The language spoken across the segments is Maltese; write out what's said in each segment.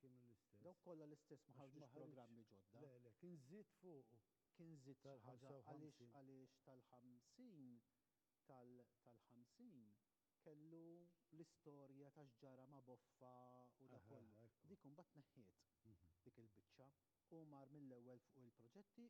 Kienu l-istess. Dawk kollha l-istess, ma ħarġux programmi ġodda. Le, le, kien żied fuqu. Kien żied xi ħaġa għaliex għaliex tal-ħamsin tal-ħamsin kellu l-istorja ta' x'ġara ma' Boffa u dak kollu. Dik imbagħad tneħħiet dik il-biċċa. Hu mar mill-ewwel fuq il-proġetti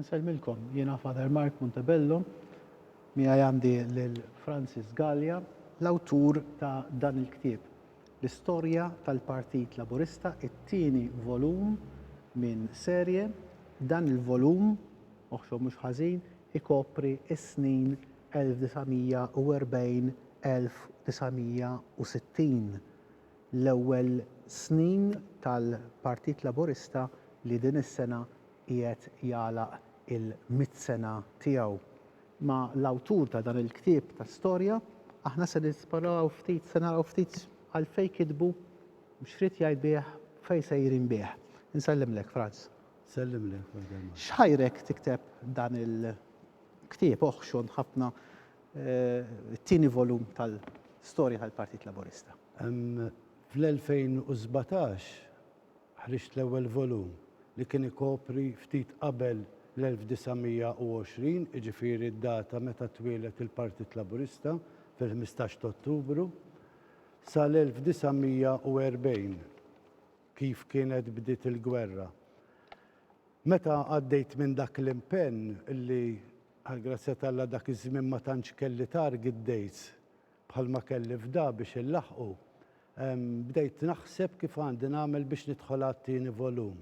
Nselmilkom, jiena Father Mark Montebello, mi għandi l-Francis Gallia, l-autur ta' dan il-ktib, l-istorja tal-Partit Laburista, it-tieni volum minn serje, dan il-volum Oħxon mhux ħażin ikopri s-snin 1940, 1960, l-ewwel snin tal-Partit Laburista li din is-sena qiegħed jagħlaq il-mitt sena tiegħu. Ma' l-awtur ta' dan il-ktieb ta' storja aħna se nesploraw ftit, se naraw ftit għalfejn kitbu, x'ried jgħid bih, fejn sejrin bih. Insellimlek, Franz. Sellimlek wahda l-mara. X'ħajrek tikteb dan il-ktieb oħxon ħafna, it-tieni volum tal-storja tal-Partit Laburista? Fl-2017 ħriġt l-ewwel volum li kien ikopri ftit qabel l-1920, jiġifieri d-data meta twieled il-Partit Laburista fil-ħmistax t'Ottubru, sal-1940. Kif kienet bdiet il-gwerra? Meta għaddejt minn dak l-impenn li, għall-grazzja t'Alla, dak iż-żmien ma tantx kelli target dates bħalma kelli f'da biex inlaħħqu, bdejt naħseb kif għandi nagħmel biex nidħol għat-tieni volum.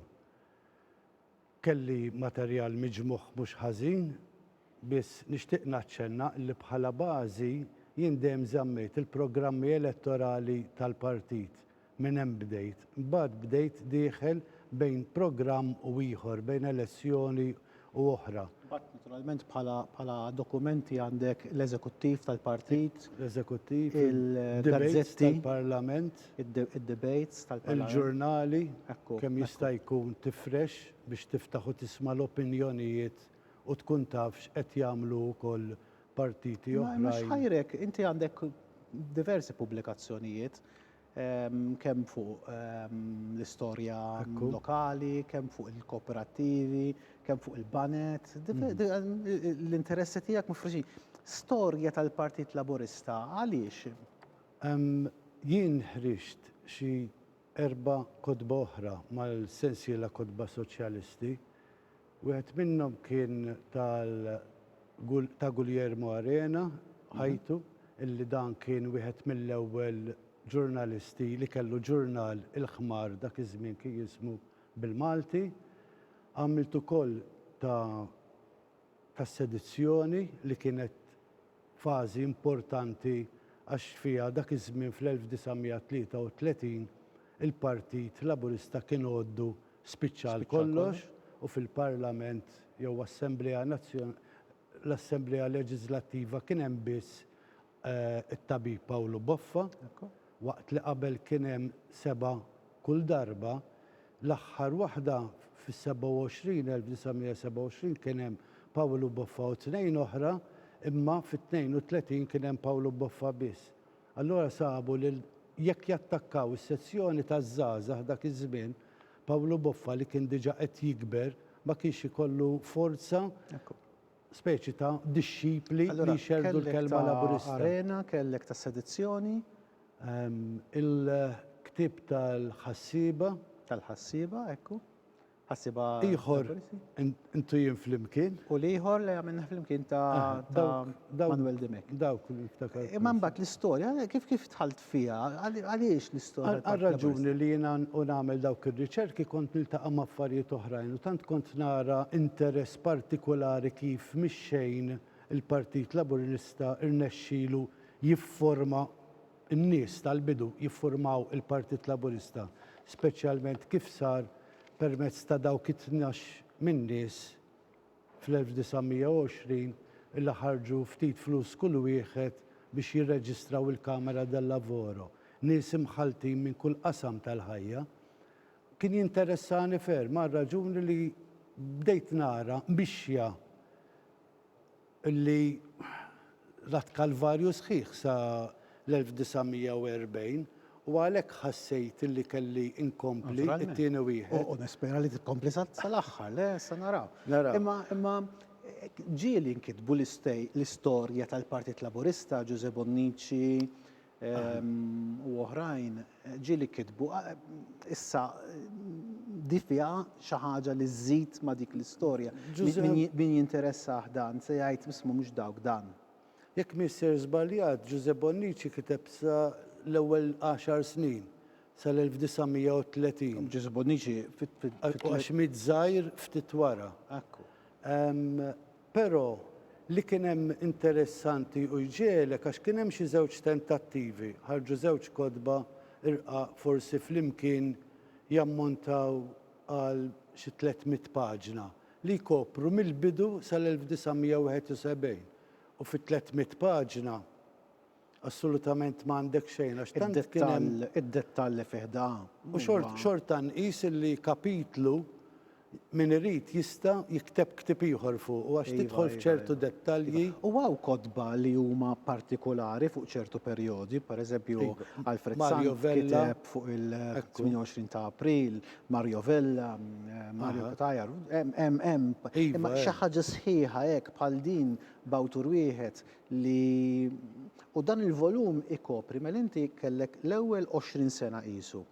Kelli materjal miġmugħ mhux ħażin, biss nixtieq naċċenna li bħala bażi jien dejjem żammejt il-programmi elettorali tal-partit, minn hemm bdejt. Imbagħad bdejt dieħel bejn programm u ieħor, bejn elessjoni u oħra. Imbagħad naturalment bħala bħala dokumenti għandek l-eżekuttiv tal-partit, L-eżekuttiv, il-debejts il-gazzetti. tal-parlament. id-debates tal-Parlament. Il-ġurnali, kemm jista' jkun tifrex biex tiftaħ u tisma' l-opinjonijiet u tkun taf x'qed jagħmlu wkoll partiti oħrajn. Mhux ħajrek, inti għandek diversi pubblikazzjonijiet kemm fuq l-istorja lokali, kemm fuq il-kooperattivi, kemm fuq il-banet, l-interessi tiegħek mifruxin. Storja tal-Partit Laburista għaliex Jien ħriġt xi erba' kotba oħra mal-sensiela Kotba Soċjalisti. Wieħed minnhom kien tal ta' Guglielmo Arena, ħajtu, illi dan kien wieħed mill-ewwel ġurnalisti li kellu ġurnal il-ħmar dak iż-żmien kien jismu bil-Malti. Għamilt ukoll ta' tas-sedizzjoni li kienet fażi importanti għax fiha dak iż-żmien fl-1933 il-Partit Laburista kien għoddu spiċċa għal kollox u fil-Parlament jew Assemblea l-Assemblea Leġiżlattiva kien hemm biss it-tabib Pawlu Boffa, waqt li qabel kien hemm sebgħa kull darba, l-aħħar waħda fis-27, 1927, kien hemm Pawlu Boffa u tnejn oħra, imma fit-32 kien hemm Pawlu Boffa biss. Allura sabu li jekk jattakkaw is-sezzjoni taż-żgħażagħ dak iż-żmien, Pawlu Boffa li kien diġà qed jikber ma kienx ikollu forza speċi ta' dixxipli li jxerrdu l-kelma Laburista. Allura kellek ta' arena, kellek ta' sedizzjoni. Il-ktieb tal-ħassieba. Tal-ħassieba, ekku. Ħassieba Laburista. Ieħor intuhim flimkien. U l-ieħor li għamilna flimkien ta' Manwel Dimech. Dawk li niftakar. Imma mbagħad l-istorja, kif dħalt fiha. Għaliex l-istorja tal-Park Tavern? Għar-raġuni li jiena u nagħmel dawk ir-riċerki kont niltaqa' ma' affarijiet oħrajn u tant kont nara interess partikulari kif mix-xejn il-Partit Laburista rnexxielu jifforma n-nies tal-bidu jiffurmaw il-Partit Laburista, speċjalment kif sar permezz ta' dawk it-tnax minn nies Fl-1920 illa ħarġu ftit flus kull wieħed biex jirreġistraw il-Camera del Lavoro, nies imħalltin minn kull qasam tal-ħajja. Kien jinteressani ferm għar-raġuni li bdejt nara mixja li L-Att Kalvarju sħiħ sa l-1940 u għalhekk ħassejt li kelli nkompli t-tieni wieħed. U nispera li tkompli sal-aħħar, le se naraw. Imma ġieli nkitbu l-istorja tal-Partit Laburista, Ġużè Bonnici, u oħrajn ġieli kitbu. Issa di fiha xi ħaġa li żżid ma' dik l-istorja. Min jinteressah dan se jgħid isma' mhux dawk dan. Jekk m'iniex ser żbaljat, Ġużè Bonnici kiteb sa l-ewwel għaxar snin, sal-1930. Ġużè Bonnici fit. Għax miet żgħir ftit wara. Ekku. Però, li kien hemm interessanti u jġegħlek għax kien hemm xi żewġ tentattivi, ħarġu żewġ kotba rqaq forsi flimkien jammontaw għal xi tliet mitt paġna, li jkopru mill-bidu sal-1971 u fit-tliet mitt paġna, Assolutament m'għandek xejn għax tant kien hemm. Id-dettall, id-dettall li fih da. U xort, xorta nqis illi kapitlu min irid jista' jikteb ktieb ieħor fuqu għax tidħol f'ċertu dettalji. U hawn kotba li huma partikulari fuq ċertu perjodi, pereżempju Alfred Sant kiteb fuq il-28 ta' April, Mario Vella, Mario Cutajar, hemm, hemm, hemm. Imma xi ħaġa sħiħa hekk bħal din b'awtur wieħed li u dan il-volum ikopri mela inti kellek l-ewwel 20 sena qisu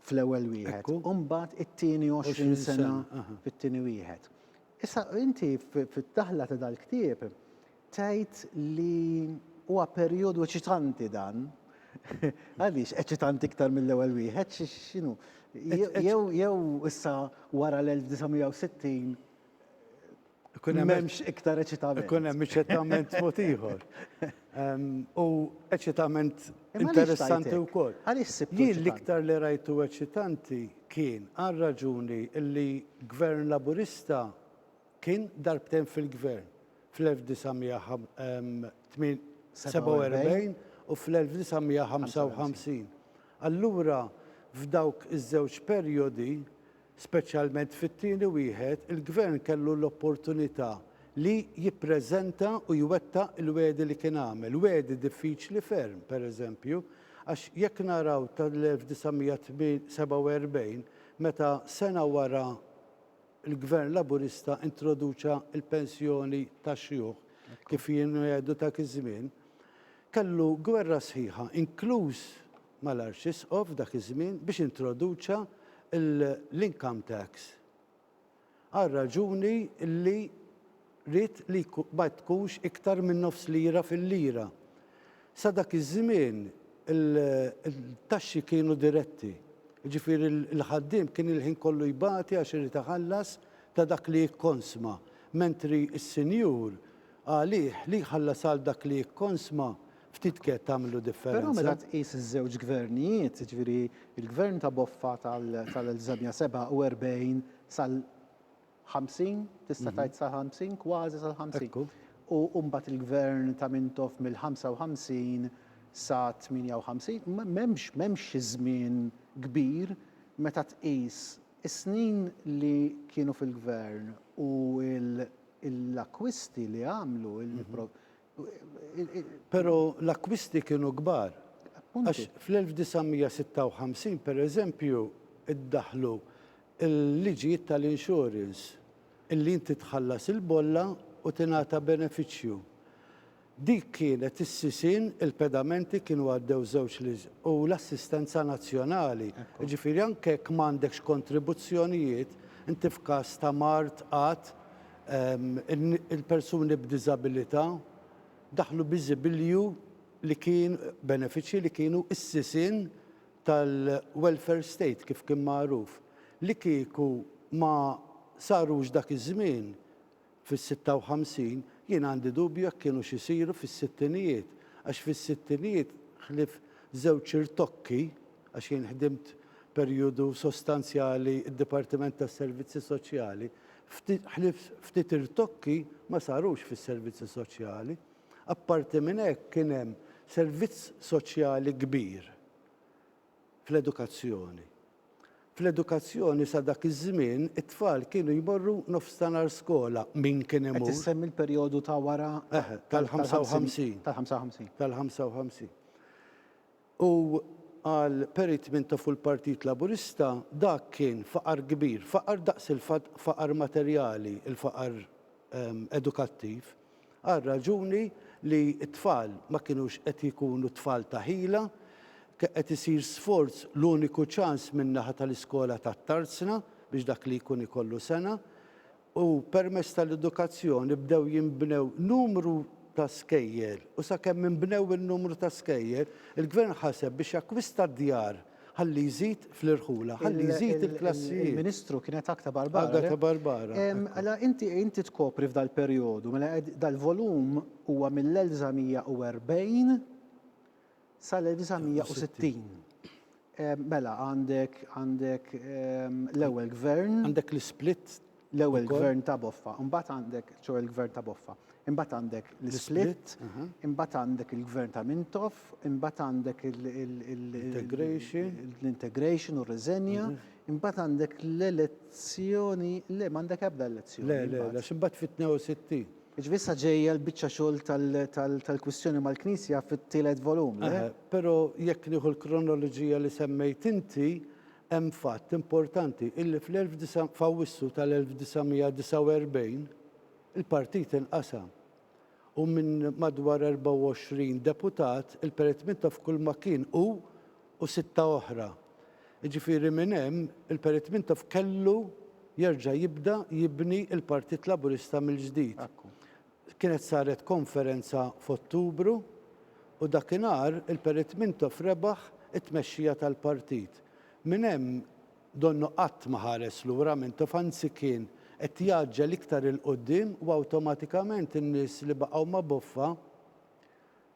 fl-ewwel wieħed, u mbagħad it-tieni 20 sena fit-tieni wieħed. Issa inti fid-daħla ta' dal-ktieb tgħid li huwa perjodu eċitanti dan. Għaliex eċitanti iktar mill-ewwel wieħed x'inhu? Jew issa wara l-1960 M'hemmx iktar eċitament. Ikun hemm eċitament mod ieħor. U eċitament interessanti wkoll. Jien l-iktar li rajtu eċitanti kien għal raġuni li Gvern Laburista kien darbtejn fil-Gvern fl-1947 u fl-1955. Allura f'dawk iż-żewġ perjodi, Speċjalment fit-tieni wieħed, il-Gvern kellu l-opportunità li jippreżenta u jwettaq il-wegħdi li kien għamel. Wegħdi diffiċli ferm, pereżempju, għax jekk naraw tal-1947, meta sena wara l-Gvern Laburista introduċa l-pensjoni tax-xjuħ, kif jien għedu dak iż-żmien, kellu gwerra sħiħa, inkluż mal-Arċisqof f'dak iż-żmien biex introduċa l-income tax għar-raġuni li ried li ma tkunx iktar minn nofs lira fil-lira. Sa dak iż-żmien il-taxxi kienu diretti, jiġifieri l-ħaddiem kien il-ħin kollu jbati għax irid iħallas ta' dak li jikkonsma, mentri s-sinjur għalih li jħallas għal dak li jikkonsma Ftit kett għamlu differenza. Però meta tqis iż-żewġ gvernijiet, jiġifieri l-gvern ta' Boffa tal-1947 sal-50, tista' tgħid sal-50, kważi sal-50, u mbagħad il-gvern ta' Mintoff mill-55 sa 58, m'hemmx m'hemmx xi żmien kbir meta tqis is-snin li kienu fil-gvern u l-akkwisti li għamlu, Però l-akkwisti kienu kbar. Għax fl-1956, pereżempju, iddaħħlu l-liġijiet tal-insurance illi inti tħallas il-bolla u tingħata benefiċċju. Dik kienet is-sisien, il-pedamenti kienu għaddew żewġ u l-assistenza nazzjonali. Jiġifieri anke jekk m'għandekx kontribuzzjonijiet, inti f'każ ta' mard, qgħad, il-persuni b'diżabilità daħlu bi żibilju li kien, benefiċċji li kienu s-sisien tal-welfare state kif kien magħruf, li kieku ma sarux dak iż-żmien fis-56, jien għandi dubju jekk kienux isiru fis-sittinijiet, għax fis-sittinijiet ħlief żewġ irtokki, għax jien ħdimt perjodu sostanzjali d-Dipartiment tas-Servizzi Soċjali, ftit ħlief ftit irtokki ma sarux fis-servizzi soċjali. Apparti minn hekk kien hemm servizz soċjali kbir fl-edukazzjoni. Fl-edukazzjoni sa dak iż-żmien it-tfal kienu jmorru nofs ta' nhar skola min kien imur. Qed issemmi l-perjodu ta' wara. Eħe, tal-55. Tal-55. Tal-55. U għal Perry Tmintoff u l-Partit Laburista dak kien faqar kbir, faqar daqs il-faqar materjali, il-faqar edukattiv, għar-raġuni li t-tfal ma kinux qed jkunu tfal ta' ħila, kien qed isir sforz l-uniku ċans min-naħa tal-iskola tat-Tarzna biex dak li jkun ikollu sengħa. u permezz tal-edukazzjoni bdew jinbnew numru ta' skejjel u sakemm inbnew in-numru ta' skejjel, il-Gvern ħaseb biex jakkwista d-djar ħalli jżid fl-irħula, ħalli jżid il-klassijiet. Il-Ministru kien qed Agta Barbara, le? Agata Barbara. Mela inti inti tkopri f'dal perjodu, mela dal-volum huwa mill-1940 Sal-1960. Mela għandek għandek l-ewwel gvern. Għandek l-isplit. L-ewwel gvern ta' Boffa, imbagħad għandek ċo il-gvern ta' Boffa. Imbagħad għandek l-isplit, imbagħad għandek il-gvern ta' Mintoff, imbagħad għandek l-integration u r-riżenja, imbagħad għandek l-elezzjoni, le m'għandek ebda elezzjoni. Le, le, għax imbagħad fit-62. Jiġifieri issa ġejja l-biċċa xogħol tal-kwistjoni mal-Knisja fit-tielet volum, le? Eħe, però jekk nieħu l-kronoloġija li semmejt inti, hemm fatt importanti, illi f'Awwissu tal-1949 il-partit inqasam u minn madwar 24 deputat, il-peretmita f'kulma kien hu u sitta oħra. Jiġifieri minn hemm il-Perit Mintoff kellu jerġa' jibda jibni l-Partit Laburista mill-ġdid. Kienet saret konferenza f'Ottubru u dakinhar il-Perit Mintoff rebaħ it-tmexxija tal-partit. Minn hemm donnu qatt ma ħares lura Mintoff anzi kien qed jgħaġġel iktar 'il quddiem u awtomatikament in-nies li baqgħu ma' Boffa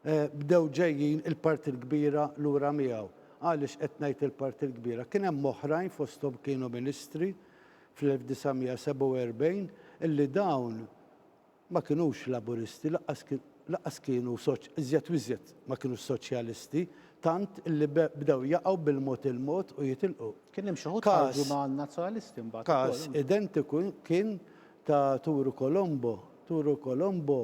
Bdew ġejjin il-parti l-kbira lura miegħu. Għaliex qed ngħid il-parti l-kbira? Kien hemm oħrajn fosthom kienu ministri fl-1947 illi dawn ma kinux Laburisti lanqas lanqas kienu iżjed u iżjed ma kinux Soċjalisti tant illi bdew jaqgħu bil-mod il-mod u jitilqu. Kien hemm xi wħud ħarġu ma' Nazzjonalisti mbagħad ukoll. Każ identiku kien ta' Turu Colombo. Turu Colombo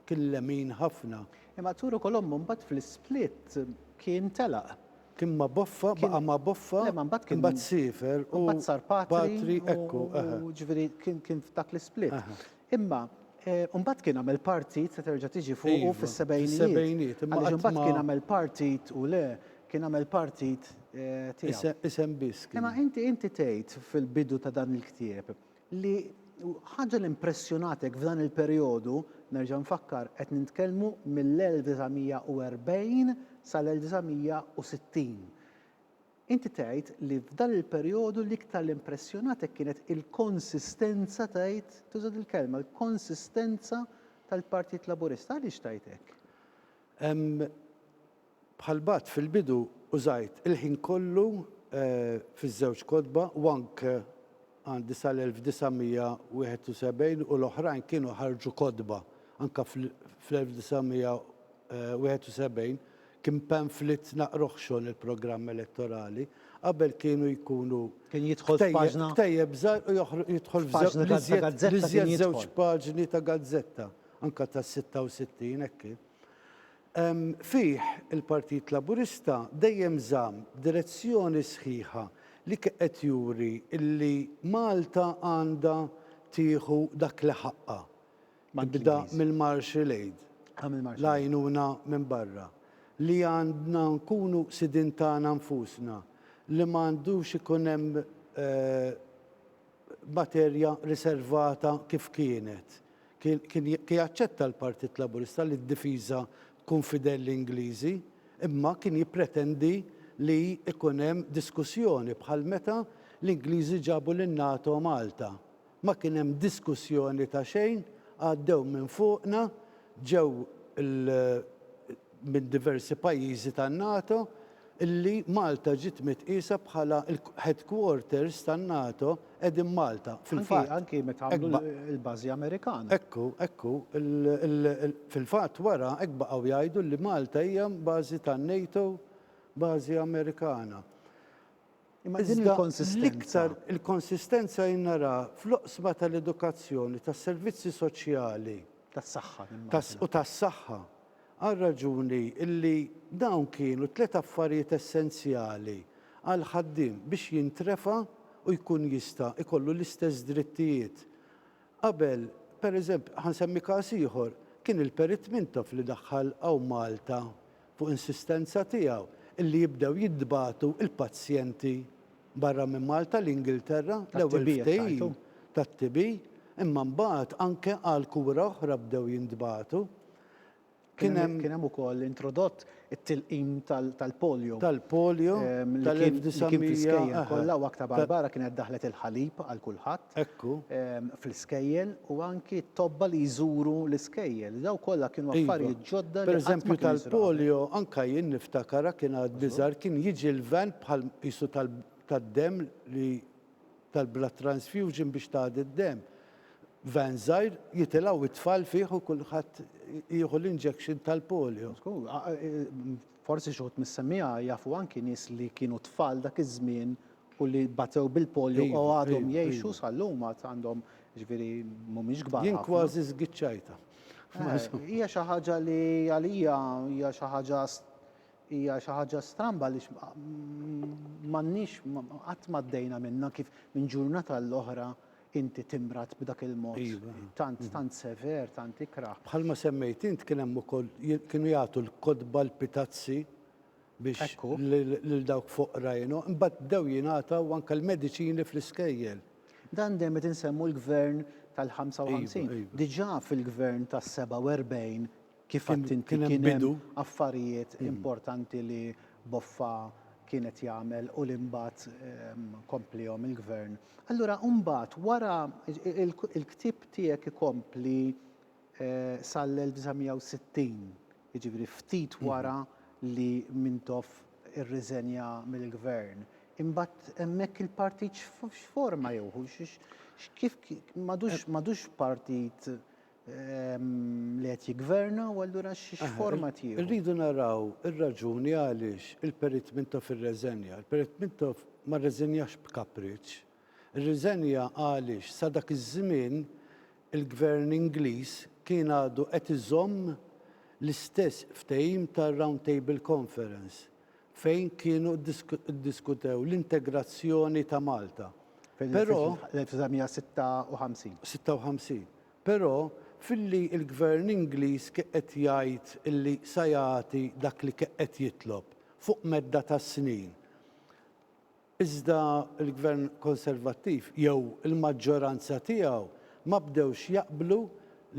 Kien lemin ħafna. Imma Arturo Colombo mbagħad fl-isplit kien telaq. Kien ma' Boffa, baqa' ma' Boffa, imbagħad siefer u mbagħad sar patri, ekku, eħe. Jiġifieri kien f'dak l-isplit. Imma mbagħad kien għamel partit, se terġa' tiġi fuqu, fis-sebgħinijiet. Għaliex imbagħad kien għamel partit u le, kien għamel partit tiegħu. Isem biss kien. Imma inti tgħid fil-bidu ta' dan il-ktieb Li ħaġa li mpressjonatek f'dan il-perjodu, nerġa' nfakkar qed nintkellmu mill-1940 sal-1960. Inti tgħid li f'dan il-perjodu l-iktar li mpressjonatek kienet il-konsistenza tgħid, tuża dil-kelma, l-konsistenza tal-Partit Laburista. Għaliex tgħid hekk? Bħal bgħadt fil-bidu użajt il-ħin kollu fiż-żewġ kotba u anke għandi sal-1971 u l-oħrajn kienu ħarġu kotba. Anke fl-1971 kien pamflit naqrah xogħol il-programm elettorali. Qabel kienu jkunu ktejjeb żgħar u joħroġ jidħol f'żewġ paġni ta' gazzetta. Anke tas-66 hekk kien. Fih, il-Partit Laburista dejjem żamm b'direzzjoni sħiħa li qed juri li Malta għandha tieħu dak li ħaqqha, tibda mill-Marshall Aid, l-għajnuna minn barra, li għandna nkunu sidien tagħna nfusna, li ma għandux ikun hemm materja riservata kif kienet. Kien jaċċetta l-Partit Laburista li d-difiża tkun f'idejn l-Ingliżi, imma kien jippretendi li jkun hemm diskussjoni bħal meta l-Ingliżi ġabu lin-NATO Malta. Ma kien hemm diskussjoni ta' xejn, għaddew minn fuqna, ġew minn diversi pajjiżi tan-NATO li Malta ġiet mitqiesa bħala l-headquarters tan-NATO qegħdin Malta. Fil-fatt. Anki meta għamlu l-bażi Amerikana. Ekku, ekku. Fil-fatt wara hekk baqgħu jgħidu li Malta hija bażi tan-NATO, bażi Amerikana. Iżda l-iktar il-konsistenza jien naraha fl-oqsma tal-edukazzjoni, tas-servizzi soċjali. Tas-saħħa, nimmaġina. U tas-saħħa. Għar-raġuni li dawn kienu tliet affarijiet essenzjali għall-ħaddiem biex jintrefa' u jkun jista' jkollu l-istess drittijiet. Qabel, pereżempju, ħa nsemmi każ ieħor, kien il-Perit Mintoff li daħħal hawn Malta fuq insistenza tiegħu, li jibdew jintbagħtu l-pazjenti barra minn Malta, l-Ingilterra, l-ewwel ftehim tat-TB, imma mbagħad anke għal kura oħra bdew jintbagħtu. Kien hemm. Kien hemm ukoll introdott it-tilqim tal-polio. Tal-polio tal-1900. Li kien fl-iskejjel kollha u aktar barra kienet daħlet il-ħalib għal kulħadd. Hekk hu. fl-iskejjel u anki t-tobba li jżuru l-iskejjel. Dawn kollha kienu affarijiet ġodda li qatt ma kienu sraw. Pereżempju tal-polio anke jien niftakara kien għadni żgħar kien jiġi l-van bħal qisu tad-demm li tal-blood transfusion biex tagħdi d-demm. Van żgħir jitilgħu t-tfal fih u kulħadd jieħu l-injection tal-polio. Żgur. Forsi xi wħud mis-semmiegħa jafu anki nies li kienu tfal dak iż-żmien u li batew bil-polio u għadhom jgħixu sal-lum għad għandhom jiġifieri mhumiex kbar ħafna. Jien kważi żgiċċajtha. Hija xi ħaġa li għalija hija xi ħaġa hija xi ħaġa stramba għaliex m'għandniex qatt m'għaddejna minnha kif minn ġurnata għal oħra inti timrad b'dak il-mod tant tant sever, tant ikrah. Bħalma semmejt int kien hemm ukoll kienu jagħtu l-kotba l-pitazzi. biex lil dawk foqra jingħo, imbagħad bdew jingħataw anke l-mediċini fl-iskejjel. Dan dejjem qed insemmu l-Gvern tal-55. Diġà fil-Gvern tas-47 kif għedt inti kien hemm affarijiet importanti li Boffa kien qed jagħmel u li mbagħad kompliehom il-Gvern. Allura mbagħad wara il-ktieb tiegħek ikompli sal-1960. jiġifieri ftit wara li Mintoff irriżenja mill-Gvern, imbagħad hemmhekk il-partit x'forma jew hu kif m'għadux partit li qed jiggverna u allura x'forma tieħu? Irridu naraw ir-raġuni għaliex il-Perit Mintoff irreżenja. Il-Perit Mintoff ma rreżenjax b'kapriċċ. rriżenja għaliex sa dak iż-żmien il-Gvern Ingliż kien għadu qed iżomm l-istess ftehim tar-Round Table Conference fejn kienu ddiskutew l-integrazzjoni ta' Malta. Però. Fil-1956. 56. Però filli l-Gvern Ingliż ke qed jgħid illi sa jagħti dak li ke qed jitlob fuq medda ta' snin. Iżda l-Gvern Konservattiv jew il-maġġoranza tiegħu ma bdewx jaqblu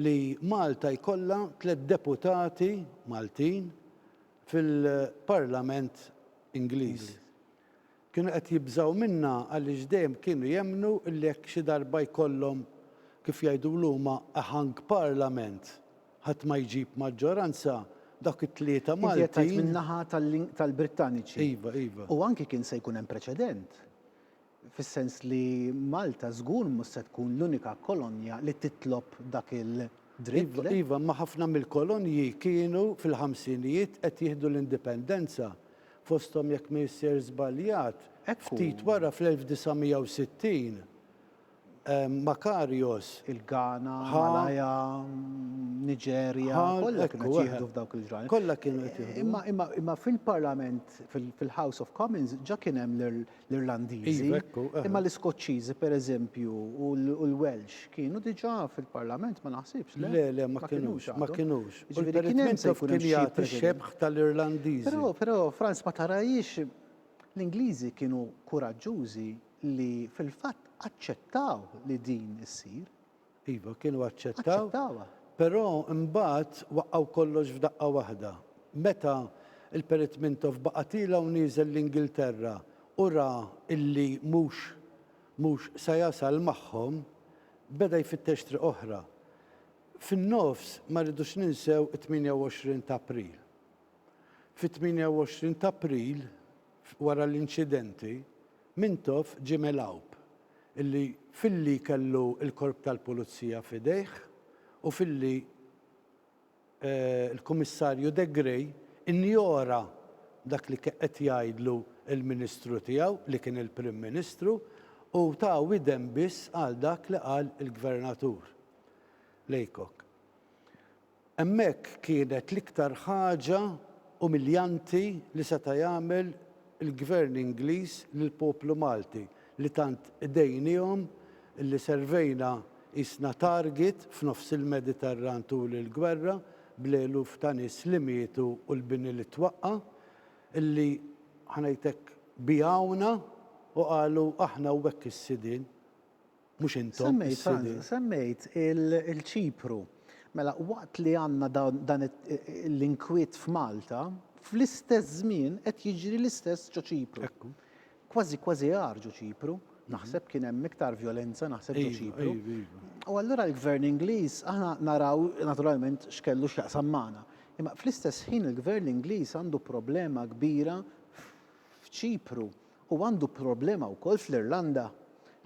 li Malta jkollha tliet deputati Maltin fil-Parlament Ingliż. Kienu qed jibżgħu minnha għaliex dejjem kienu jemmnu li jekk xi darba jkollhom, kif jgħidulu huma, a hung Parliament, Ħadd ma jġib maġġoranza, dawk it-tlieta Maltin. Inti qed tgħid min-naħa tal-Brittaniċi. Iva, iva. U anki kien se jkun hemm preċedent, fis-sens li Malta żgur mhux se tkun l-unika kolonja li titlob dak il-dritt, le? Iva, iva, imma ħafna mill-kolonji kienu fil-ħamsinijiet qed jieħdu l-indipendenza, fosthom jekk m'issir żbaljat, ftit wara fl-1960. Makarios. Il-Ghana, Malaya, Niġerja, kollha kienu qed jieħdu f'dawk il-ġranet. Kollha kienu qed jieħdu. Imma imma imma fil-Parlament fil-House of Commons ġa kien hemm l-Irlandiżi. Imma l-Iskoċċiżi pereżempju u l-Welsh kienu diġà fil-Parlament ma naħsibx. Le le ma kinux ma kinux. Ġifieri kien hemm se jkun hemm jagħti xebħ tal-Irlandiżi. Però però Franz ma tarajiex l-Ingliżi kienu kuraġġużi li fil-fatt aċċettaw li din issir. Iva, kienu aċċettaw. Aċċettawha. Però imbagħad waqqgħu kollox f'daqqa waħda. Meta l-Perit Mintoff baqa' tiela' u nieżel l-Ingilterra u ra illi mhux mhux se jasal magħhom, beda jfittex triq oħra. Fin-nofs ma rridux ninsew it-28 t'April. Fit-28 t'April, Wara l-inċidenti, Mintoff ġie megħlub illi filli kellu l-Korp tal-Pulizija f'idejh u filli l-Kummissarju De Grey injora dak li qed jgħidlu l-Ministru tiegħu li kien il-Prim Ministru u ta widen biss għal dak li qal il-Gvernatur Laycock. Hemmhekk kienet l-iktar ħaġa umiljanti li seta' jagħmel il-Gvern Ingliż lill-poplu Malti li tant dejniehom li servejna qisna target f'nofs il-Mediterran tul il-gwerra bl-eluf ta' nies li mietu u l-bini li twaqqa' li ħa ngħid hekk biegħuna u qalu aħna u hekk is-sidien Mhux intom, is-Sidien. Semmejt il-Ċipru. Mela, waqt li għandna dan l-inkwiet f'Malta, fl-istess żmien qed jiġri l-istess ġo Ċipru. Kważi kważi agħar ġo Ċipru. Naħseb kien hemm iktar vjolenza naħseb ġo Ċipru. U allura l-Gvern Ingliż aħna naraw naturalment x'kellu x'jaqsam magħna. Imma fl-istess ħin il-Gvern Ingliż għandu problema kbira f'Ċipru Hu għandu problema wkoll fl-Irlanda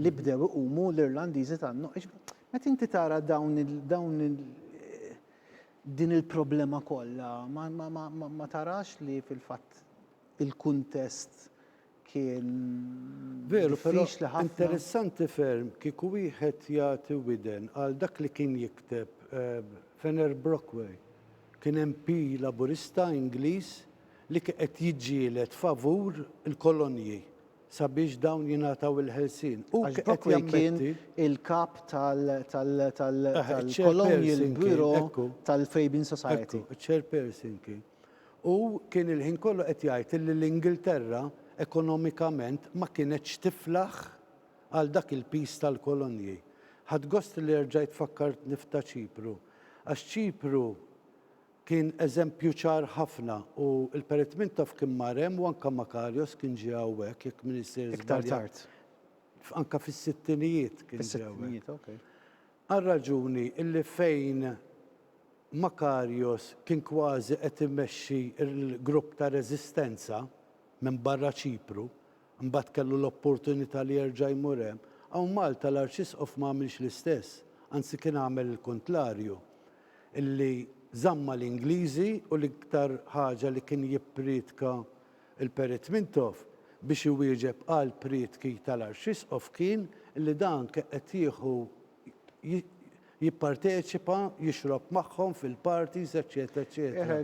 li bdew iqumu l-Irlandiżi tan-Nord. Għax meta inti tara dawn il, dawn il, din il-problema kollha, ma, ma, ma, ma, ma tarax li fil-fatt il-kuntest kien Veru, però diffiċli ħafna. interessanti ferm kieku wieħed jagħti widen għal dak li kien jikteb eh, Fenner Brockway. Kien MP Laburista Ingliż li qed jiġġieled favur il-kolonji sabiex dawn jingħataw il-ħelsien. Hu Għax qed Brockway kien jammetti il-kap tal- tal- tal- Eħe, tal-Colonial iċ-chairperson kien, Bureau ekku. tal-Fabian Society. Ekku, iċ-chairperson kien. Hu kien il-ħin kollu qed jgħid illi l-Ingilterra ekonomikament ma kienetx tiflaħ għal dak il-piż tal-kolonji. Ħadt gost li erġajt fakkartni f'ta' Ċipru, għax Ċipru Kien eżempju ċar ħafna u l-Perit Mintoff kien mar hemm u anke Makarios kien ġie hawnhekk jekk m'iniex sejr żbaljat. Iktar tard. Anke fis-sittinijiet kien ġie hawnhekk. Fis-sittinijiet, okej. Għar-raġuni illi fejn Makarios kien kważi qed imexxi l-grupp ta' reżistenza minn barra Ċipru, Imbagħad kellu l-opportunità li jerġa' jmur hemm. Hawn Malta l-Arċisqof ma għamilx l-istess, anzi kien għamel il-kuntlarju, illi żamm mal-Ingliżi u l-iktar ħaġa li kien jipprietka l-Perit Mintoff biex iwieġeb għall-prietki tal-Arċisqof kien illi dan kien qed jieħu jipparteċipa, jixrob magħhom fil-parties, eċċetera, eċċetera.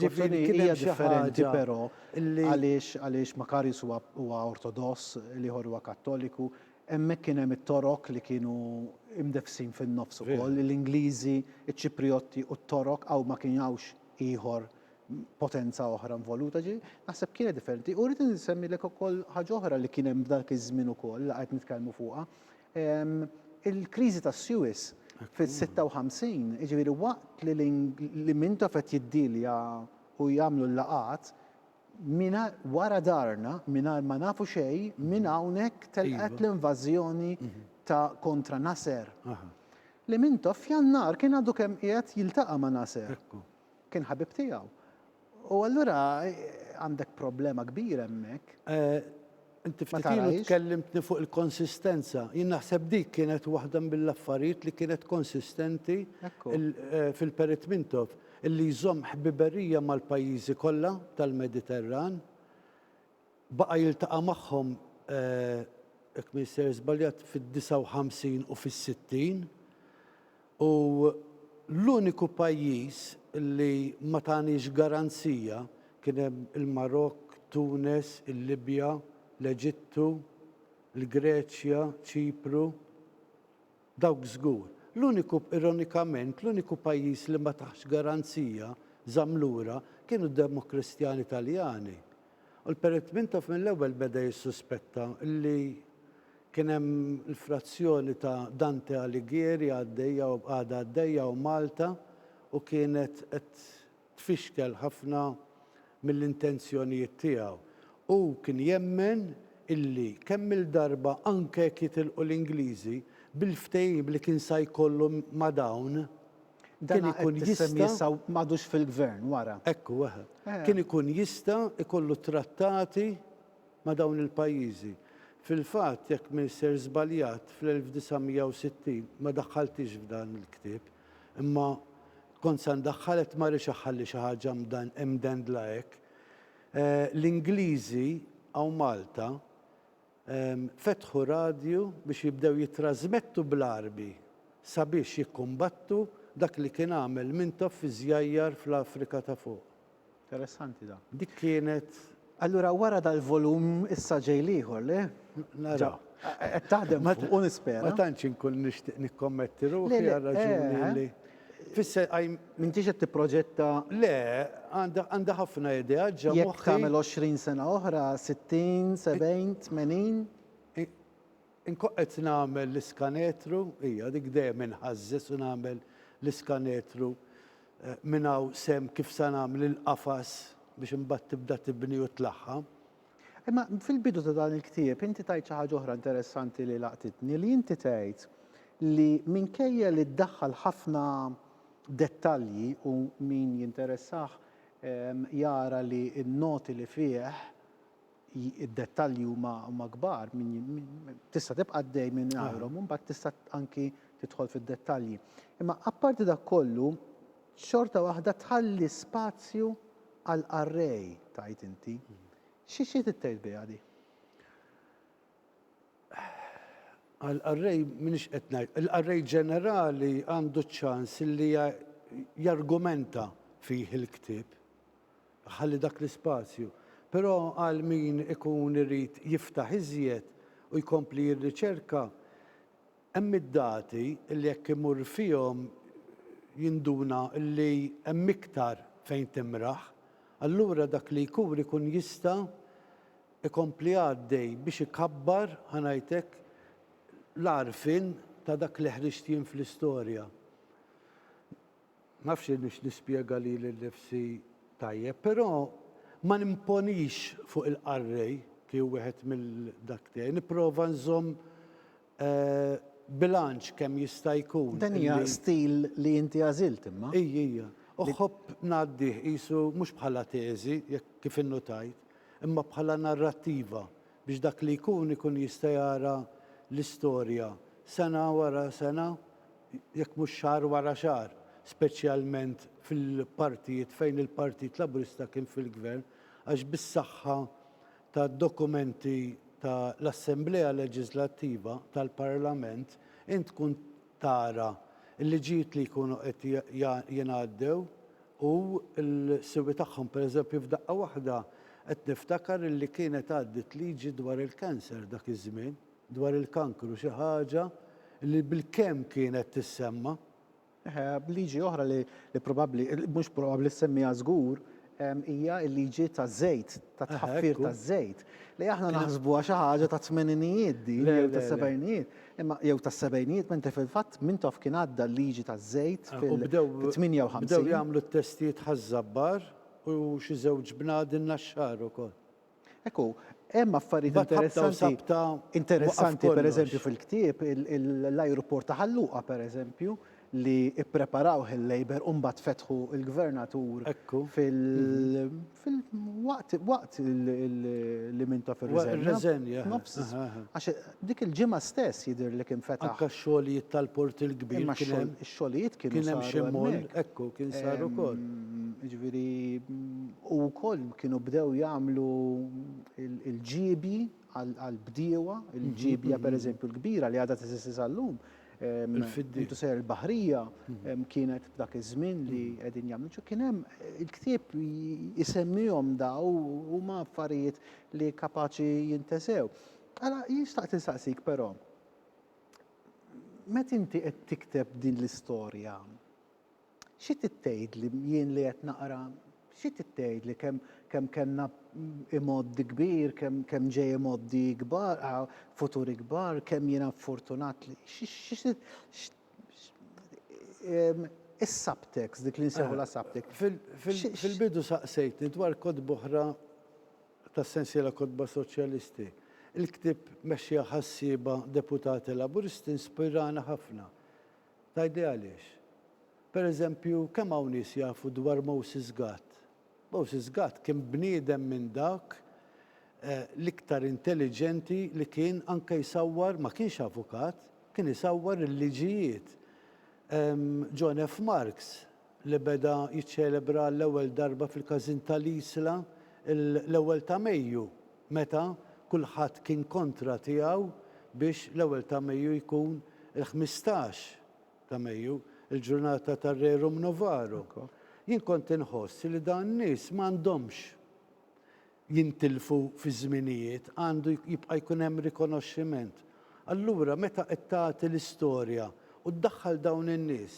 Ġifieri kien hemm xi ħaġa però għaliex għaliex Makarius huwa huwa Ortodoss, l-ieħor huwa Kattoliku, hemmhekk kien hemm it-Torok li kienu imdefsin fin-nofs ukoll, l-Ingliżi, iċ-Ċiprijotti u t-Torok hawn ma kien hawnx ieħor potenza oħra involuta, ġi naħseb kienet differenti. U rrid insemmilek ukoll ħaġa oħra li kien hemm f'dak iż-żmien ukoll li qed nitkellmu fuqha, Il-kriżi tas-Suez fis-56, jiġifieri waqt li li Mintoff qed jiddilja u jagħmlu l-laqgħat, mingħajr wara darna, mingħajr ma nafu xejn, minn hawnhekk telqet l-invażjoni ta' kontra Nasser. Li Mintoff f'Jannar kien għadu kemm qiegħed jiltaqa' ma' Nasser. Kien ħabib tiegħu. U allura għandek problema kbira hemmhekk. Inti ftit ilu tkellimtni fuq il-konsistenza. Jien naħseb dik kienet waħda mill-affarijiet li kienet konsistenti fil-Perit Mintoff, illi jżomm ħbiberija mal-pajjiżi kollha tal-Mediterran, Baqa' jiltaqa' magħhom, jekk m'iniex sejjer żbaljat, fid-59 u fis-60 u l-uniku pajjiż li ma taniex garanzija, kien hemm il-Marokk, Tunes, il-Libja, l-Eġittu, il-Greċja, Ċipru. Dawk żgur. L-uniku, ironikament, l-uniku pajjiż li ma taħx garanzija, żamm lura, kienu d-Demokristjani Taljani. U l-Perit Mintoff mill-ewwel beda jissuspetta li kien hemm l-frazzjoni ta' Dante Alighieri għaddejja u għadha għaddejja u Malta u kienet qed tfixkel ħafna mill-intenzjonijiet tiegħu. Hu kien jemmen illi kemm-il darba anke jekk jitilqu l-Ingliżi, bil-ftehim li kien sa jkollu ma' dawn, kien ikun jista'. Dan qed issemmi issa m'għadux fil-Gvern wara. Ekku, eħe. Kien ikun jista' jkollu trattati ma' dawn il-pajjiżi. Fil-fatt, jekk m'inser żbaljat, fl-1960, ma daħħalthiex f'dan il-ktieb, Imma kont sa ndaħħal qed ma rridx aħħalli xi ħaġa mdendla hekk. L-Ingliżi hawn Malta fetħu radju biex jibdew jittrażmettu bl-Għarbi sabiex jikkumbattu dak li kien għamel Mintoff fiż-żjajjar fl-Afrika ta' fuq. Interessanti dan. Dik kienet Allura wara dal-volum issa ġej l-ieħor, le? Nara. Qed taħdem fuq u nispera. Ma tantx inkun nixtieq nikkommetti ruħi għal raġuni li tfisser qajm. M'intix qed tipproġetta. Le, għandi ħafna idea ġo moħħi. Jekk tagħmel 20 sena oħra, 60, 70, 80? Inkun qed nagħmel l-iskanetru, hija dik dejjem inħażżeż u nagħmel l-iskanetru minn hawn s'hemm kif sa nagħmel il-qafas biex imbagħad tibda tibni u tlaħħam. Imma fil-bidu ta' dan il-ktieb inti tgħid xi ħaġa oħra interessanti li laqtitni li inti tgħid li minkejja li ddaħħal ħafna dettalji u min jinteressah jara li n-noti li fih id-dettalji huma kbar, tista' tibqa' għaddej minn għajrhom u mbagħad tista' anki tidħol fid-dettalji. Imma apparti dak kollu, xorta waħda tħalli spazju għal qarrej, tgħid inti. Xi xi trid tgħid biha di? Għal qarrej m'iniex qed ngħid, il-qarrej ġenerali għandu ċ-ċans li jargumenta fih il-ktieb. Ħalli dak l-ispazju. Però għal min ikun irid jiftaħ iżjed u jkompli jirriċerka, hemm id-dati li jekk imur fihom jinduna li hemm iktar fejn timraħ. Allura dak li jkur ikun jista' ikompli għaddej biex ikabbar, ħa ngħid hekk, l-għarfien ta' dak li ħriġt jien fl-istorja. Ma nafx hiniex nispjega lili nnifsi tajjeb, però ma nimponix fuq il-qarrej kif wieħed mill-dak tiegħi. Nipprova nżomm bilanċ kemm jista' jkun. Dan hija stil li inti għażilt imma. Hi, hija. Uħobb ngħaddih qisu mhux bħala teżi, jekk kif innutajt, imma bħala narrattiva biex dak li jkun ikun jista' jara l-istorja sena wara sena jekk mhux xahar wara xahar, speċjalment fil-partijiet fejn il-Partit Laburista kien fil-Gvern, għax bis-saħħa tad-dokumenti ta' l-Assemblea Leġiżlattiva tal-Parlament int tkun tara l-liġijiet li jkunu qed jingħaddew u l-siwi tagħhom. Per eżempju f'daqqa waħda qed niftakar li kienet għaddiet liġi dwar il-cancer dak iż-żmien. dwar il-kankru, xi ħaġa li bilkemm kienet tissemma. Liġi oħra li probabbli, mhux probabbli ssemmiha żgur, hija l-liġi taż-żejt, tat-tħaffir taż-żejt, li aħna naħsbuha xi ħaġa tat-tmeninijiet din jew tas-sebgħinijiet, imma jew tas-sebgħinijiet, mentre fil-fatt Mintoff kien għadda l-liġi taż-żejt fil-58. Bdew jagħmlu t-testijiet ħaż-żabbar u xi żewġ bnadi nnaxxar ukoll. Hekk hu, hemm affarijiet interessanti, interessanti pereżempju fil-ktieb l-ajruport ta' Ħalluqa pereżempju li ippreparawh il-Labour u mbagħad fetħu l-Gvernatur fil-waqt waqt li minta fir-riżenja. Għax Dik il-ġimgħa stess jidhir li kien fetaħ. Anke x-xogħlijiet tal-Port il-Kbir kien hemm. Imma x-xogħlijiet kienu saru hemmhekk. Kien hemm xi moll, ekku, kien sar ukoll. Jiġifieri u wkoll kienu bdew jagħmlu l-ġiebji għall-bdiewa, il-ġiebja pereżempju l-kbira li għadha teżisti sal-lum, intu sejjer il-Baħrija, kienet f'dak iż-żmien li qegħdin jagħmlu. Kien hemm, il-ktieb isemmihom dawn u huma affarijiet li kapaċi jintesew. Mela jien xtaqt insaqsik però, meta inti qed tikteb din l-istorja, xi trid tgħidli jien li qed naqra, xi trid tgħidli kemm kemm kellna imgħoddi kbir, kemm kemm ġej imgħoddi ikbar, futur ikbar, kemm jiena ffortunat li, xi xi trid is-subtext, dik li nsejħulha subtext. Fil-bidu saqsejtni dwar kotba oħra ta' sensiela kotba Soċjalisti. Il-ktieb mexxija ħassieba deputati Laburisti nspirana ħafna. Tgħidli għaliex? Per eżempju, kemm hawn nies jafu dwar Moses Gatt? Moses Gatt kien bniedem minn dak l-iktar intelliġenti li kien anke jsawwar, ma kienx avukat, kien isawwar il-liġijiet. John F. Marks li beda jiċċelebra għall-ewwel darba fil-Każin ta' l-Isla l-ewwel ta' Mejju meta kulħadd kien kontra tiegħu biex l-ewwel ta' Mejju jkun il-ħmistax ta' Mejju, il-ġurnata tar-Rerum Novarum. Jien kont inħoss li dawn nies m'għandhomx jintilfu fiż-żminijiet, għandu jibqa' jkun hemm rikonoxximent. Allura meta qed tagħti l-istorja u ddaħħal dawn in-nies,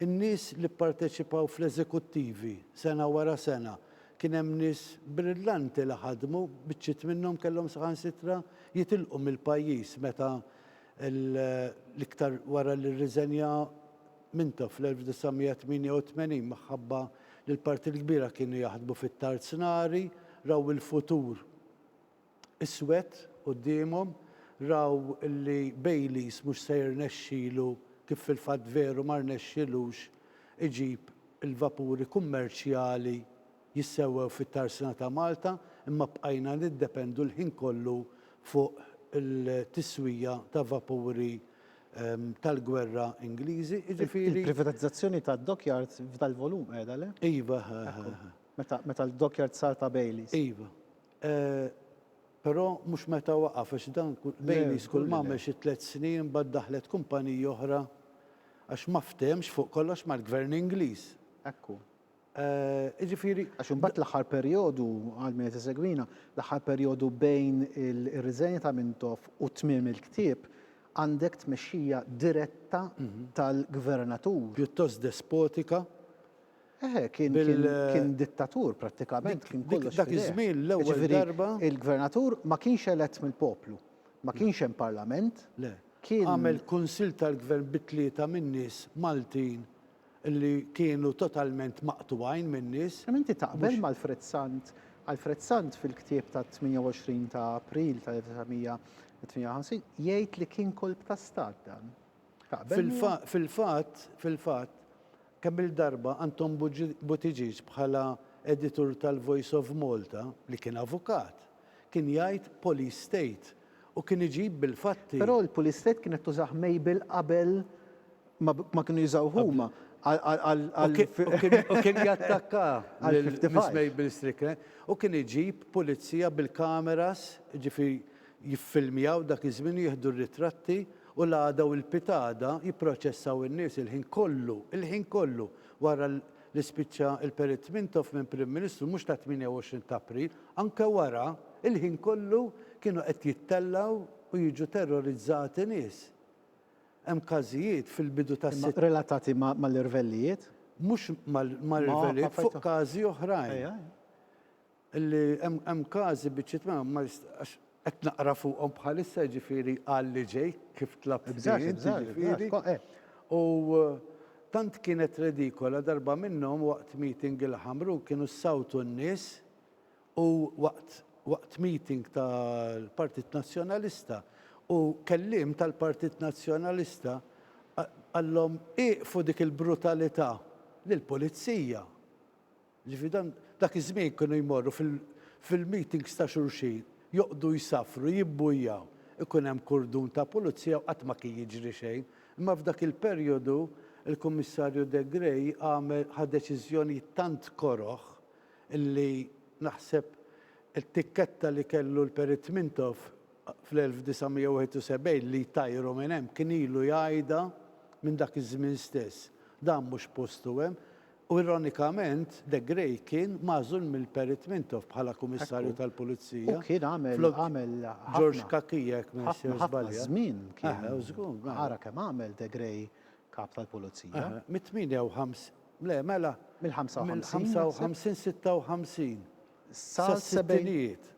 in-nies li pparteċipaw fl-eżekuttivi sena wara sena, kien hemm nies brillanti li ħadmu, biċċiet minnhom kellhom saħansitra jitilqu mill-pajjiż meta l-iktar wara li rriżenja Mintoff fl-1988 minħabba li l-parti l-kbira kienu jaħdmu fit-tarznari, raw il-futur iswed quddiemhom, raw li Bayliss mhux se jirnexxilu kif fil-fatt veru ma rnexxilux iġib il-vapuri kummerċjali jissewwew fit-tarsna ta' Malta imma bqajna niddependu l-ħin kollu fuq il-tiswija ta' vapuri tal-gwerra Ingliżi, jiġifieri. Il-privatizzazzjoni tad-dockyard f'dal-volum qiegħda, le? Iva, eħe. Meta l-dockyard sar ta' Baileys. Iva. Però mhux meta waqaf għax dan Baileys kull m'għamel xi tliet snin imbagħad daħlet kumpanija oħra għax ma fthemx fuq kollox mal-Gvern Ingliż. Ekku. Jiġifieri, għax imbagħad l-aħħar perjodu, għal min qed isegwina, l-aħħar perjodu bejn ir-riżenja ta' Mintoff u tmiem il-ktieb, għandek tmexxija diretta tal-Gvernatur. Pjuttost despotika. Eħe, kien dittatur prattikament, kien kollox f'idejh. Dak iż-żmien l-ewwel darba. Jiġifieri, il-Gvernatur ma kienx elett mill-poplu, ma kienx hemm Parlament. Le. Għamel Kunsill tal-Gvern bi tlieta min-nies Maltin li kienu totalment maqtugħin min-nies. Kemm inti taqbel m'Alfred Sant? Alfred Sant fil-ktieb tat-28 ta' April tal-1958 jgħid li kien kolp ta' stat dan. Taqbel miegħu? Fil-fatt, fil-fatt, kemm-il darba Anton Buttigieg bħala editur tal-Voice of Malta, li kien avukat, Kien jgħid police state u kien iġib bil-fatti. Però l-police state kienet tużah Mabel qabel ma kienu jużawh huma għal U kien jattakka lil Miss Mabel Strickland u kien iġib pulizija bil-kameras, jiġifieri jiffilmjaw dak iż-żmien u jieħdu r-ritratti u l-għada u l-pitada jipproċessaw in-nies il-ħin kollu, il-ħin kollu wara li spiċċa l-Perit Mintoff minn Prim Ministru mhux ta' 28 t'April, anke wara, il-ħin kollu kienu qed jittellgħu u jiġu terrorizzati nies. Hemm każijiet fil-bidu tas. Imma relatati mal-irvellijiet? Mhux mal-irvellijiet, fuq każi oħrajn. Li hemm każi biċċiet minnhom ma jist-, għax qed naqra fuqhom bħalissa jiġifieri għal li ġej kif tlabt int jiġifieri, u tant kienet redikola darba minnhom waqt meeting il-Ħamrun kienu ssawtu n-nies u waqt waqt meeting tal-Partit Nazzjonalista u kelliem tal-Partit Nazzjonalista qallhom ieqfu dik il-brutalità lill-Pulizija. Jiġifieri dan dak iż-żmien kienu jmorru fil-meetings ta' xulxin, joqgħdu jsaffru, jibbujjaw, ikun hemm kurdun ta' pulizija u qatt ma kien jiġri xejn. Imma f'dak il-perjodu il-Kummissarju De Grey għamel, ħa deċiżjonijiet tant koroh illi naħseb it-tikketta li kellu l-Perit Mintoff fl-1971 li jtajru minn hemm kien ilu jgħidha minn dak iż-żmien stess. Dan mhux postu hemm. U ironikament, De Grey kien magħżul mill-Perit Mintoff bħala Kummissarju tal-Pulizija flok George Cachia jekk ma nix żbalja. Ħafna ħafna żmien kien. Ara kemm għamel De Grey Kap tal-Pulizija. Mit-58, le mela, mill-55, 56, 56. Sas-sittinijiet.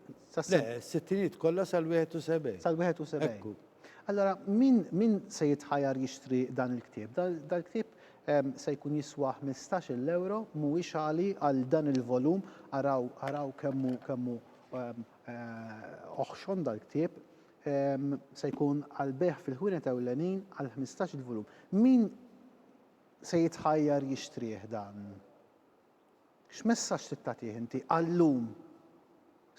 Le, s-sittinijiet kollha sal-71. Sal-71. Ekku. Allura, min, min se jitħajar jixtri dan il-ktieb? Da, dal-ktieb ehm, se jkun jiswa 15-il euro, mhuwiex għali għal dan il-volum, araw, araw kemmu, kemmu ehm, eh, oħxon dal-ktieb, ehm, se jkun għal beħ fil-ħwienet ewlenin għal 15-il volum. Min se jitħajar jixtrih dan? X'messaġġ trid tagħtih inti għal-lum?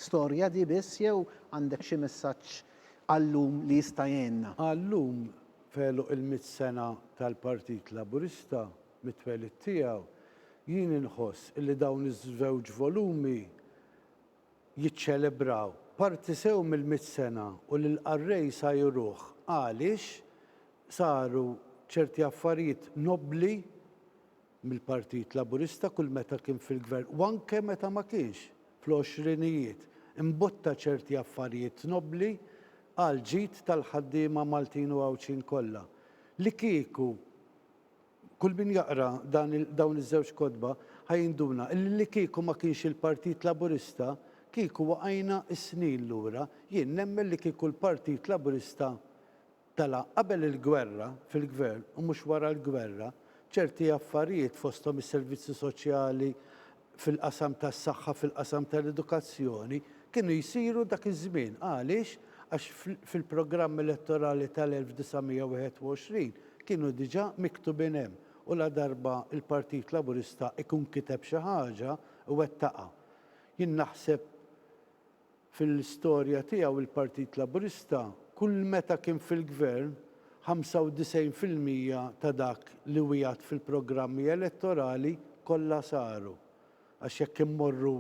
Storja di biss jew għandek xi messaġġ għal-lum li jista' jgħinna? Għal-lum, f'għeluq il-mitt sena tal-Partit Laburista mit-twelid tiegħu, jien inħoss li dawn iż-żewġ volumi jiċċelebraw parti sew mill-mitt sena u lill-qarrej sa jruh għaliex saru ċerti affarijiet nobbli mill-Partit Laburista kull meta kien fil-Gvern u anke meta ma kienx, fl-għoxrinijiet, imbotta ċerti affarijiet nobbli għall-ġid tal-ħaddiema Maltin u Għawdxin kollha. Li kieku kull min jaqra dan dawn iż-żewġ kotba ħa jinduna illi li kieku ma kienx il-Partit Laburista kieku waqajna s-snin lura, jien nemmen li kieku l-Partit Laburista Mela, qabel il-gwerra, fil-Gvern, u mhux wara l-gwerra, ċerti affarijiet fosthom is-servizzi soċjali, fil-qasam tas-saħħa, fil-qasam tal-edukazzjoni, kienu jsiru dak iż-żmien. Għaliex? Għax fil-programm elettorali tal-1921 kienu diġà miktubin hemm u ladarba l-Partit Laburista jkun kiteb xi ħaġa, iwettaqha. Jien naħseb Fil-istorja tiegħu il-Partit Laburista kull meta kien fil-Gvern 95 fil-mija ta' dak li wiegħed fil-programmi elettorali kollha saru. Għax jekk immorru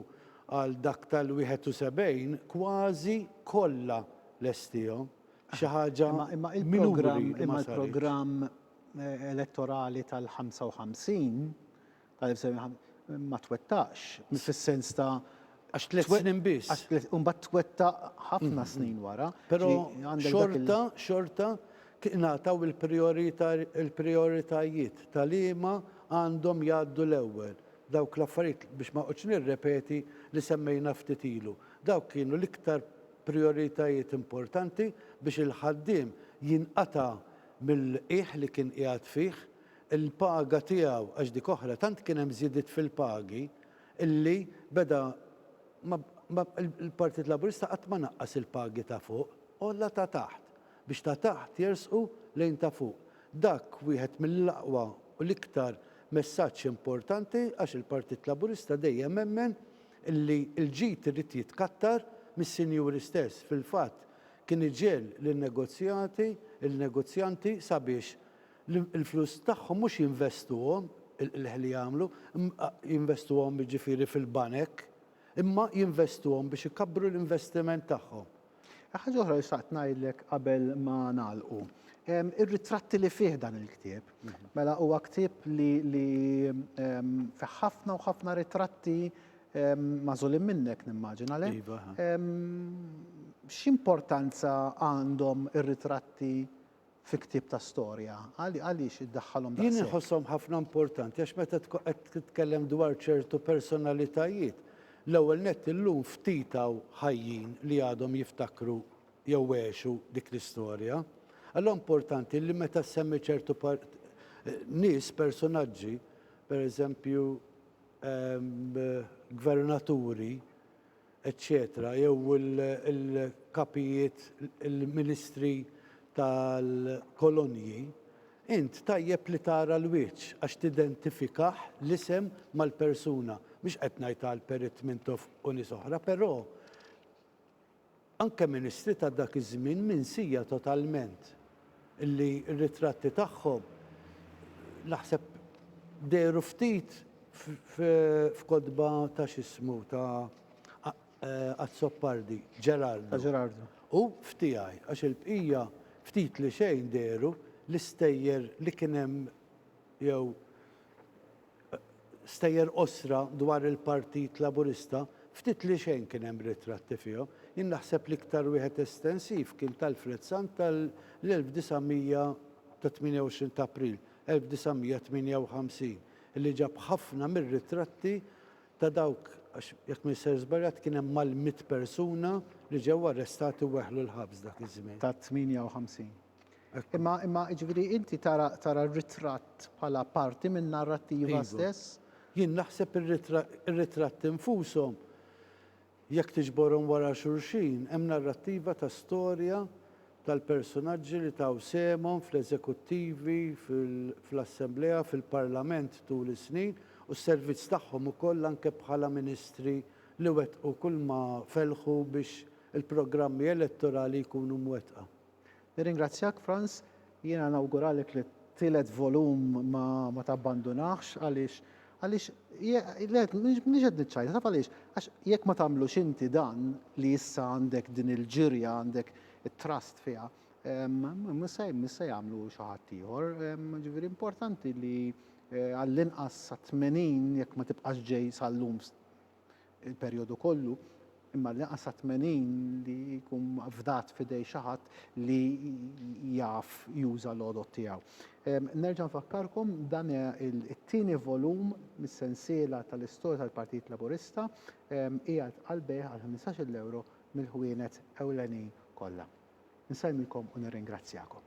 għal dak tal-71 kważi kollha lestihom. Xi ħaġa b'numri li ma saritx. Imma l-programm elettorali tal-55 Ma twettaqx, mhux fis-sens ta' Għax tliet snin biss. Għax tliet, u mbagħad twettaq ħafna snin wara. Però xorta, xorta tingħataw il-prijoritajiet ta' liema għandhom jgħaddu l-ewwel. Dawk l-affarijiet, biex ma noqgħodx nirrepeti li semmejna ftit ilu, dawk kienu l-iktar prijoritajiet importanti biex il-ħaddiem jinqata' mill-qiegħ li kien qiegħed fih, il-paga tiegħu għax dik oħra tant kien hemm żidiet fil-pagi illi beda ma ma il-Partit Laburista qatt ma naqqas il-pagi ta' fuq, għolla ta' taħt biex ta' taħt jersqu lejn ta' fuq. Dak wieħed mill-aqwa u l-iktar messaġġ importanti għax il-Partit Laburista dejjem emmen illi l-ġid irid jitkattar mis-sinjuri stess, fil-fatt kien iġegħel lin-negozjati, il-negozjanti sabiex l-flus tagħhom mhux jinvestuhom, il-qligħ li jagħmlu, jinvestuhom jiġifieri fil-banek, imma jinvestuhom biex ikabbru l-investiment tagħhom. Ħaġa oħra li xtaqt ngħidlek qabel ma nagħlqu. Ir-ritratti li fih dan il-ktieb, mela huwa ktieb li li fih ħafna u ħafna ritratti magħżulin minnek nimmaġina, le? Iva. X'importanza għandhom ir-ritratti fi ktieb ta' storja? Għaliex iddaħħalhom daqshekk? Jien inħosshom ħafna importanti għax meta tkun qed titkellem dwar ċertu personalitajiet, l-ewwel nett illum ftit hawn ħajjin li għadhom jiftakru jew għexu dik l-istorja. Allura importanti li meta ssemmi ċertu nies, personaġġi, pereżempju gvernaturi, eċċetera jew il-kapijiet, il-ministri tal-kolonji, int tajjeb li tara l-wiċċ għax tidentifikah l-isem mal-persuna. Mhux qed ngħid għal Perit Mintoff u nies oħra, però Anke ministri ta' dak iż-żmien minsija totalment, li r-ritratti tagħhom naħseb dehru ftit f'kotba ta' x'ismu ta' Azzopardi, Gerardo, u f'tiegħi, għax il-bqija ftit li xejn dehru, l-istejjer li kien hemm jew. stejjer qosra dwar il-Partit Laburista, ftit li xejn kien hemm ritratti fihom. Jien naħseb l-iktar wieħed estensiv kien t'Alfred Sant tal-28 t'April 1958, li ġab ħafna mir-ritratti ta' dawk, għax jekk m'inser żbaljat kien hemm mal-mitt persuna li ġew arrestati u weħlu l-ħabs dak iż-żmien. Ta' 58. Imma, imma, ġviri, inti tara, tara r-ritratt bħala parti minn narrattiva iva. stess? Jien naħseb ir-ritratt infushom, jekk tiġborhom wara xulxin, hemm narrattiva ta' storja tal-personaġġi li taw sehemhom fl-eżekuttivi, fl-assemblea, fil-parlament tul is-snin, u s-servizz tagħhom ukoll anke bħala ministri li wettqu kulma fellħu biex il-programmi elettorali jkunu mwettqa. Nirringrazzjak Frans, jiena nawguralek li t-tielet volum ma, ma tabbandunahx għaliex għaliex le m'iniex qed niċċajta taf għaliex għax jekk ma tagħmlux inti dan li issa għandek din il-ġirja għandek it-trust fiha mhux se jagħmlu xi ħadd ieħor ġifieri importanti li għall-inqas sat-80 jekk ma tibqax ġej sal-lum il-perjodu kollu, imma li qasa' tmenin li jkun fdat f'idej xi ħadd li jaf juża l-għodod tiegħu. Nerġa' nfakkarkom dan it-tieni volum mis-sensiela tal-istorja tal-Partit Laburista qiegħed għall-bejgħ għal 15-il ewro mill-ħwienet ewlenin kollha. Insellmikom u nirringrazzjakom.